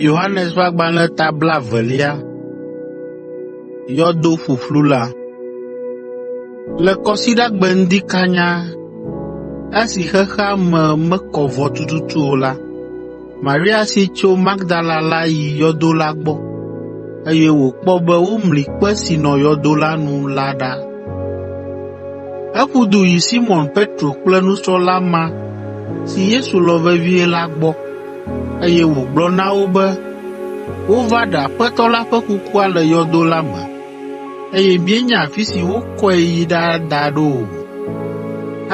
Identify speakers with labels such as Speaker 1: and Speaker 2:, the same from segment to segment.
Speaker 1: Yohanes ƒe agbalẽ ta blaevelia yɔdo ƒuƒlu la. Le Kɔsiɖagbe ŋdi kanya esi xexea me mekɔ vɔ tututu o la, Maria si tso Magdala la yi yɔdo la gbɔ, eye wòkpɔ be womli kpe si nɔ yɔdo la nu la ɖa. Eƒu du yi Simɔn Petro kple nusrɔ̃la ma si Yesu lɔ̃ vevie la gbɔ, eye wògblɔ na wo be wova ɖe Aƒetɔ la ƒe kukua le yɔdo la me, eye míenya afi si wokɔe yi ɖada ɖo o.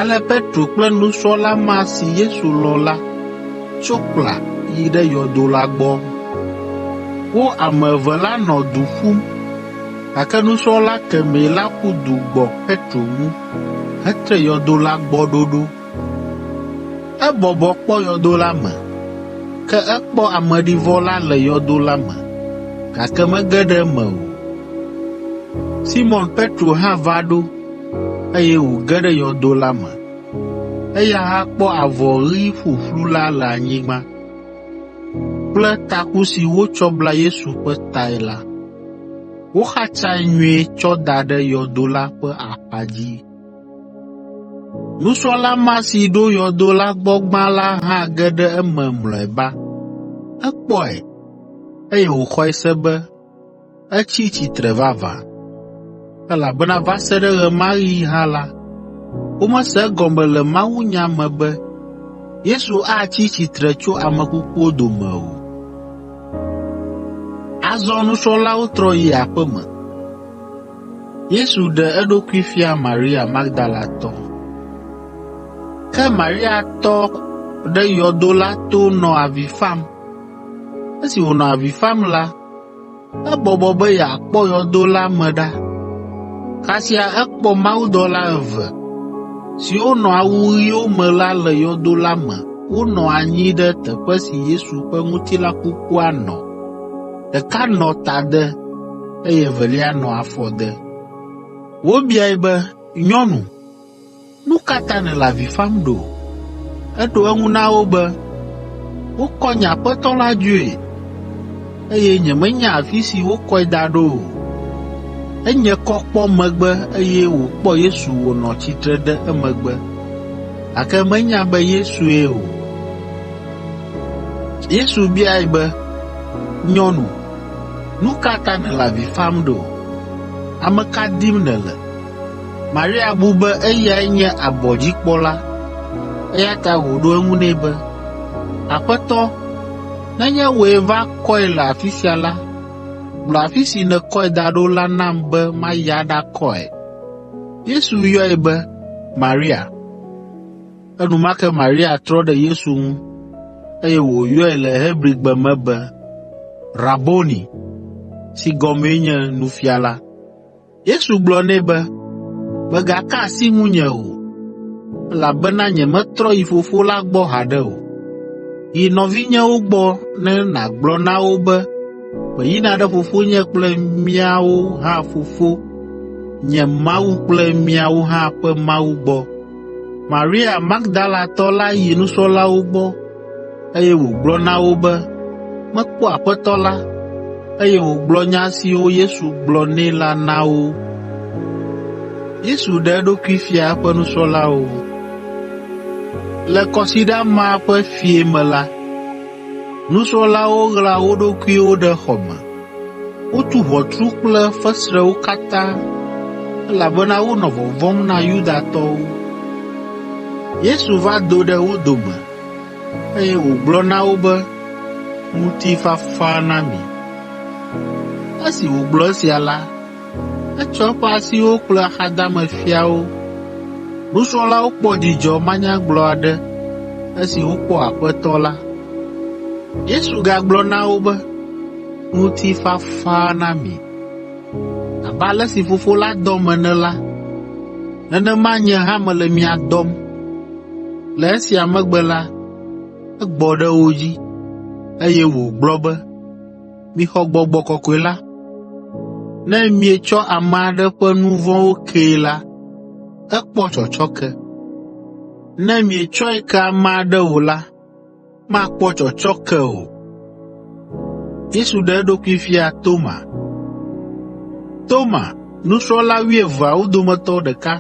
Speaker 1: Ale Petro kple nusrɔ̃la ma si Yesu lɔ̃ la tso kpla yi ɖe yɔdo la gbɔ. Wo ame eve la nɔ du ƒum, Gake nusrɔ̃la kemɛ la ƒu du gbɔ Petro ŋu hetre yɔdo la gbɔ ɖoɖo. Ebɔbɔ kpɔ yɔdo la me, ke ekpɔ ameɖivɔ la le yɔdo la me, gake mege ɖe eme o. Simɔn Petro hã va ɖo, eye wòge ɖe yɔdo la me. Eya hã kpɔ avɔ ɣi ƒuƒlu la le anyigba kple taku si wotsɔ bla Yesu ƒe tae la. Woxatsae nyuie tsɔ da ɖe yɔdo la ƒe axadzi. Nusrɔ̃la ma si ɖo yɔdo la gbɔ gbã la hã ge ɖe eme mlɔeba. Ekpɔe, eye wòxɔe se be etsi tsitre vavã. Elabena va se ɖe ɣe ma ɣi hã la, womese egɔme le mawunya me be Yesu atsi tsitre tso ame kukuwo dome o. Azɔ nusrɔ̃lawo trɔ yi aƒe me. Yesu ɖe eɖokui fia Maria Magdalatɔ Ke Maria tɔ ɖe yɔdo la to nɔ avi fam. Esi wònɔ avi fam la, Ebɔbɔ be yeakpɔ yɔdo la me ɖa. Kasia ekpɔ mawudɔla eve, siwo nɔ awu ɣiwo me la le yɔdo la me wonɔ anyi ɖe teƒe si Yesu ƒe ŋutilã kukua nɔ. Ɖeka nɔ tade, eye evelia nɔ afɔde. Wobiae be, “Nyɔnu, Nu ka ta nèle avi fam ɖo? Eɖo eŋu na wo be, Wokɔ nye Aƒetɔ la dzoe, eye nyemenya afi si wokɔe da ɖo o. Enye kɔ kpɔ megbe eye wòkpɔ Yesu wònɔ tsitre ɖe emegbe, gake menya be Yesue o. Yesu biae be, Nyɔnu, nu ka ta nèle avi fam ɖo? Ame ka dim nèle? Maria bu be eyae nye abɔdzikpɔla, eya ta wòɖo eŋu nɛ be, “Aƒetɔ, nenye wòe va kɔe le afi sia la, gblɔ afi si nèkɔe da ɖo la nam be mayi aɖakɔe.” Yesu yɔe be, “Maria!” Enumake Maria trɔ ɖe Yesu ŋu, eye wòyɔe le Hebrigbe me be, “Raboni!” (si gɔmee nye “Nufiala”). Yesu gblɔ nɛ be, “Mègaka asi ŋunye o, elabena nyemetrɔ yi Fofo la gbɔ haɖe o. Yi nɔvinyewo gbɔ ne nàgblɔ na wo be meyina ɖe Fofonye kple miawo hã Fofo, nye Mawu kple miawo hã ƒe Mawu gbɔ.” Maria Magdalatɔ la yi nusrɔ̃lawo gbɔ eye wògblɔ na wo be mekpɔ Aƒetɔ la, eye wògblɔ nya siwo Yesu gblɔ nɛ la na wo. Yesu ɖe eɖokui fia eƒe nusrɔ̃lawo. Le kɔsiɖa ma ƒe fiẽ me la, nusrɔ̃lawo ɣla wo ɖokuiwo ɖe xɔ me Wotu ʋɔtru kple fesrewo katã, elabena wonɔ vɔvɔ̃m na Yudatɔwo. Yesu va do ɖe wo dome, eye wògblɔ na wo be, “Ŋutifafa na mi.” Esi wògblɔ esia la, Etsɔ eƒe asiwo kplɔ axadame fiawo. Nusrɔ̃lawo kpɔ dzidzɔ manyagblɔ aɖe esi wokpɔ Aƒetɔ la. Yesu gagblɔ na wo be, Ŋutifafa na mi. Abe ale si Fofo la dɔm ene la, nenema nye hã mele mia dɔm. Le esia megbe la, egbɔ ɖe wo dzi, eye wògblɔ be, mixɔ Gbɔgbɔ Kɔkɔe la. Ne mietsɔ ame aɖe ƒe nu vɔ̃wo kee la, ekpɔ tsɔtsɔke. Ne mietsɔe ke ame aɖe o la, makpɔ tsɔtsɔke o.” Yesu ɖe eɖokui fia Toma. Toma, nusrɔ̃la wuieveawo dometɔ ɖeka,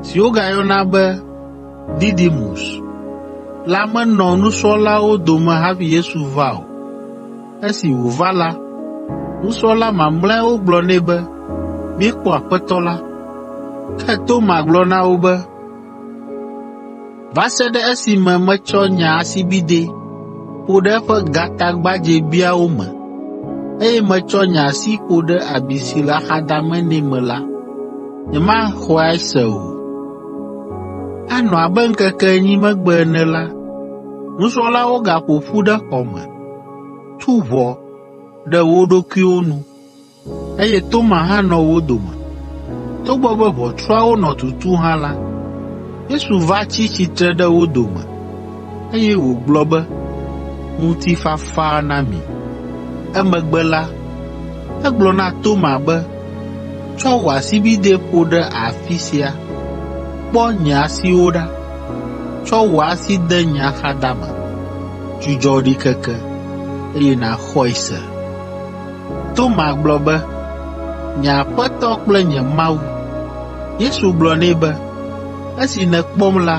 Speaker 1: si wogayɔna be Didimus la menɔ nusrɔ̃lawo dome hafi Yesu va o. Esi wòva la, nusrɔ̃la mamlɛawo gblɔ nɛ be, “Míekpɔ Aƒetɔ la.” Ke Toma gblɔ na wo be, va se ɖe esime metsɔ nye asibidɛ ƒo ɖe eƒe gatagbadzɛbiawo me, eye metsɔ nye asi ƒo ɖe abi si le axadame nɛ me la, nyemaxɔe se o. Anɔ abe ŋkeke enyi megbe ene la, nusrɔ̃lawo gaƒo ƒu ɖe xɔ me, tu ʋɔ ɖe wo ɖokuiwo nu, eye Toma hã nɔ wo dome. Togbɔ be ʋɔtruawo nɔ tutu hã la, Yesu va tsi tsitre ɖe wo dome, eye wògblɔ be, “Ŋutifafa na mi.” Emegbe la, egblɔ na Toma be, “Tsɔ wò asibidɛ ƒo ɖe afi sia, kpɔ nye asiwo ɖa. Tsɔ wò asi de nye axadame, dzudzɔ ɖikeke, eye nàxɔe se.” Toma gblɔ be, “Nye Aƒetɔ kple nye Mawu!” Yesu gblɔ nɛ be, “Esi nèkpɔm la,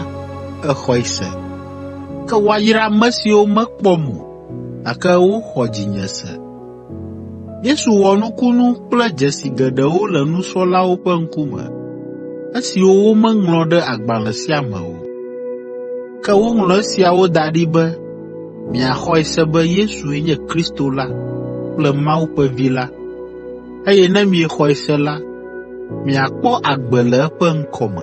Speaker 1: èxɔe se. Ke woayra ame siwo mekpɔm o, gake woxɔ dzinye se.” Yesu wɔ nukunu kple dzesi geɖewo le nusrɔ̃lawo ƒe ŋkume, esiwo womeŋlɔ ɖe agbalẽ sia me o. Ke woŋlɔ esiawo da ɖi be, Miaxɔe se be Yesue nye Kristo la kple Mawu ƒe Vi la, eye ne miexɔe se la, miakpɔ agbe le eƒe ŋkɔ me.